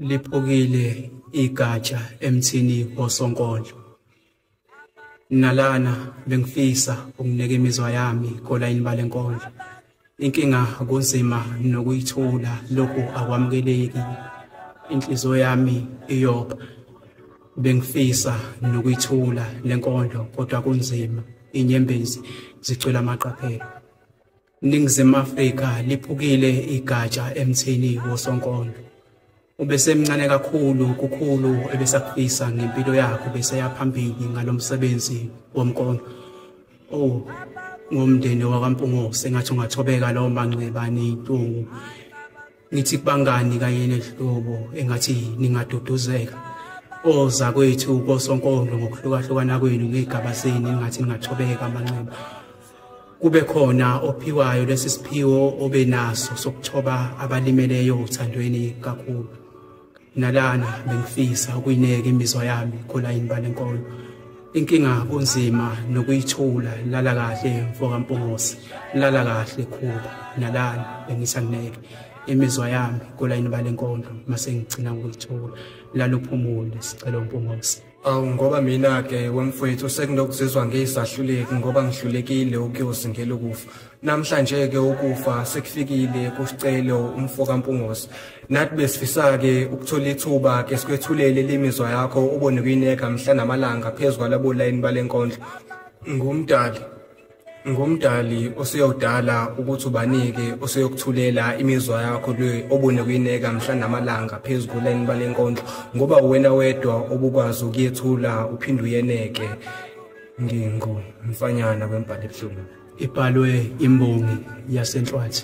liphukile igatsha emthini wosonkondlo nalana bengifisa ukuneka imizwa yami kolayini balenkondlo inkinga kunzima nokuyithula lokhu akwamukeleki inhliziyo yami iyopha bengifisa nokuyithula lenkondlo kodwa kunzima inyembezi zicwela amaqaphelo Ningizimu Afrika liphukile igatsha emthini wosonkondlo. Ubesemncane kakhulu kukhulu ebesakufisa ngempilo yakhe beseya phambili ngalomsebenzi womkondo. Oh, ngomndeni wakwaMpungo sengathi ungathobeka lo manxeba nentungu ngithi kubangani kanye nezihlobo engathi ningaduduzeka oza kwethu kosonkondlo ngokuhlukahlukana kwenu ngey'gaba zenu engathi ningathobeka amanxeba kube khona ophiwayo lesi siphiwo obenaso sokuthoba abalimeleyo othandweni kakhulu nalana bengifisa ukuyineka imizwa yami khona yini balenkolo inkinga kunzima nokuyithula lala kahle mfokampungose lala kahle khuba nalana bengisangineke imizwa yami kolayini balenkondlo mase ngigcina ukuyithula lalophumule sicela umpungose Awu ngoba mina ke wemfwethu sekunokuzizwa ngiyisahluleki ngoba ngihlulekile ukuyozingela ukufa. Namhlanje ke ukufa sekufikile kusicelo umfo kaMpungosi. Nathi besifisa ke ukuthola ithuba ke sikwethulele lemizwa yakho obone kuyineka mhla namalanga phezulu kwalabo line balenkondlo. Ngumdali ngomdali osuyodala ukuthi ubanike osuyokuthulela imizwa yakho le obune kuyineka mhla namalanga phezu kuleni balenkondlo ngoba uwena wedwa obukwazi ukuyethula uphinde uyeneke ngingu mfanyana kwembhalo ebuhlungu ibhalwe imbongi yasenhlwathi